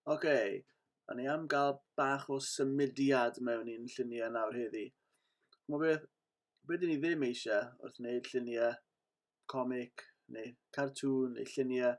Oce, okay. o'n i am gael bach o symudiad mewn i'n lluniau nawr heddi. Chmo beth, beth dyn ni ddim eisiau wrth wneud lluniau comic neu cartŵn neu lluniau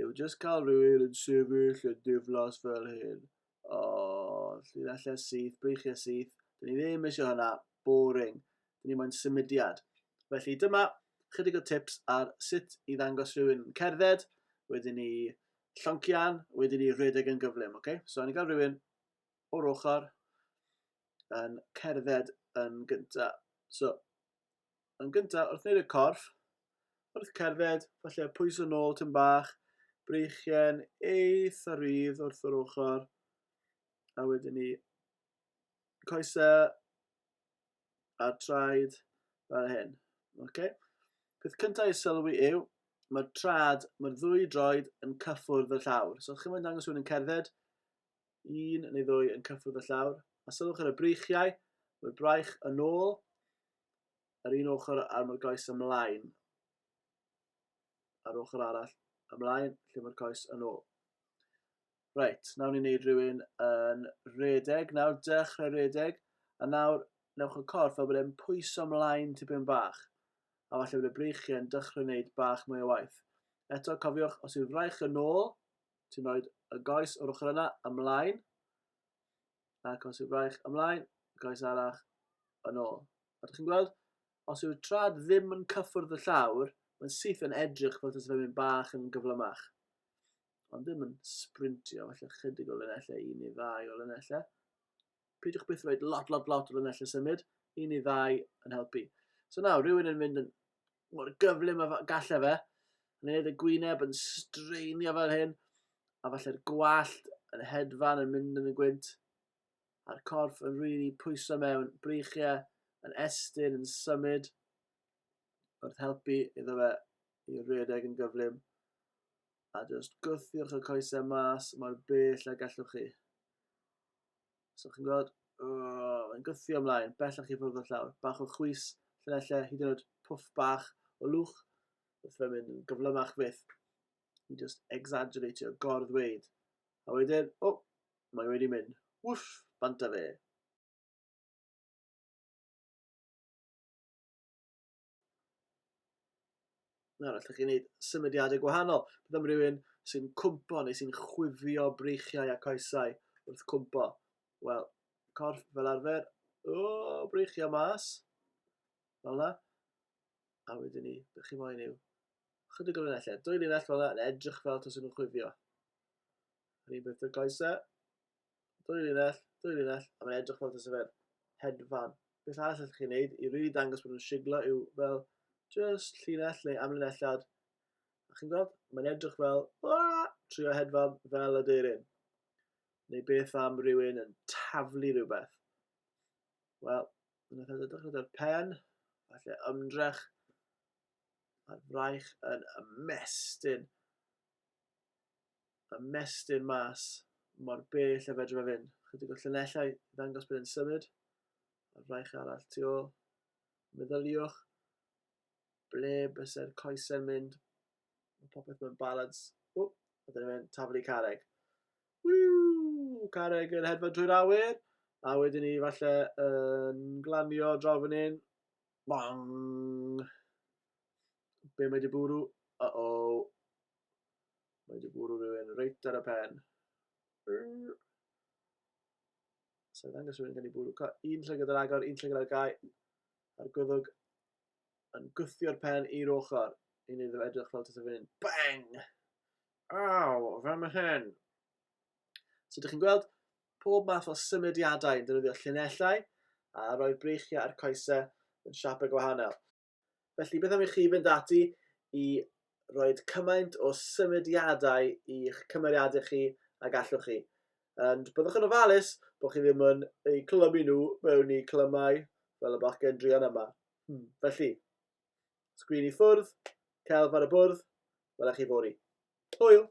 yw jyst cael rhywun yn sefyll yn diflas fel hyn. O, llinellau syth, breichiau syth. Dyn ni ddim eisiau hynna. Boring. Dyn ni moyn symudiad. Felly dyma chydig o tips ar sut i ddangos rhywun yn cerdded, wedyn ni lloncian, wedyn ni rhedeg yn gyflym. Okay? So, ni'n cael rhywun o'r ochr yn cerdded yn gyntaf. So, Yn gyntaf, wrth wneud y corff, wrth cerdded, falle pwyso nôl tyn bach, breichien eitha rydd wrth yr ochr, a wedyn ni coesau a traed fel hyn. Okay? Peth cyntaf i sylwi yw, mae'r trad, mae'r ddwy droed yn cyffwrdd y llawr. So, chi'n mynd dangos rhywun yn cerdded, un neu ddwy yn cyffwrdd y llawr, a sylwch ar y breichiau, mae'r braich yn ôl, yr un ochr ar mae'r goes ymlaen, a'r ochr arall ymlaen, lle mae'r coes yn ôl. Reit, nawr ni'n neud rhywun yn redeg, nawr dechrau redeg, a nawr newch y corff fel bod e'n pwyso ymlaen tipyn bach, a falle bod y breichiau yn dechrau wneud bach mwy o waith. Eto, cofiwch, os yw'r fraich yn ôl, ti'n rhoi y goes o'r ochr yna ymlaen, a coes y braich ymlaen, y coes arall yn ôl. Ydych chi'n gweld? Os yw'r trad ddim yn cyffwrdd y llawr, mae'n syth yn edrych fel tas fe'n mynd bach yn gyflymach. Ond ddim yn sprintio, felly chydig o linellau, un neu ddau o linellau. Peidiwch byth roed lot, lot, lot o linellau symud, un neu ddau yn helpu. So nawr, rhywun yn mynd yn mor gyflym a gallai fe, yn ei wneud y gwyneb yn straenio fel hyn, a falle'r gwallt yn hedfan yn mynd yn y gwynt, a'r corff yn rili pwyso mewn, breichiau yn estyn, yn symud, wrth helpu iddo fe i redeg yn gyflym, a jyst gwthiwch y coesau mas mor bell a gallwch chi. So chi'n gweld, oh, yn gythio ymlaen, bellach i fwrdd y llawr. Bach o chwys, lle hyd yn oed pwff bach o lwch, wrth fe'n mynd yn gyflymach fyth. I just exaggeratio, gor-ddweud. A wedyn, o, oh, mae wedi mynd. Wff, bant a fe. Nawr, allwch chi wneud symudiadau gwahanol. Bydd am rywun sy'n cwmpo neu sy'n chwifio breichiau a coesau wrth cwmpo. Wel, corff fel arfer, o, breichiau mas, fel yna. A wedyn ni, bych chi moyn yw, chydig o linellau, dwy linell fel yna, yn edrych fel tos yn chwifio. Rhywbeth y goesau, Dwy linell, dwy linell, a mae'n edrych fel tasa fe'n hedfan. Beth arall allwch chi'n neud i rili dangos bod nhw'n siglo yw fel just llinell neu amlinelliad. A chi'n gweld, mae'n edrych fel, aah, trio hedfan fel y deirin. Neu beth am rhywun yn taflu rhywbeth. Wel, yn y edrych gyda'r pen, falle ymdrech, a'r fraich yn ymestyn. ymestyn mas mor bell a fedrwn fe fynd. Chydig o llunellau i ddangos bod e'n symud. A'r fraich arall tu ôl. Meddyliwch ble byse'r coesau'n mynd. Mae popeth mewn balans. O, a dyna fe'n taflu careg. Wiw! Careg yn hedfan drwy'r awyr. A wedyn ni falle yn glanio draw fan hyn. Bang! Be mae di bwrw? Uh-oh. Mae di bwrw rhywun reit ar y pen. So, ddangos rhywun gan i bwrw. Un llygad ar agor, un llygad ar gau. A'r gwddwg yn gwthio'r pen i'r ochr. Yn iddo edrych fel tysau fynd. Bang! Aw, fe mae hyn. So, ydych chi'n gweld pob math o symudiadau yn defnyddio llinellau a roi'r breichiau a'r coesau yn siapau gwahanol. Felly, beth am i chi fynd ati i roi cymaint o symudiadau i'ch cymeriadau chi a gallwch chi. Ond byddwch yn ofalus bod chi ddim yn eu clymu nhw mewn i clymau fel y bachgen drian yma. Hmm. Felly, sgrin i ffwrdd, celf ar y bwrdd, welech chi fori. Hwyl!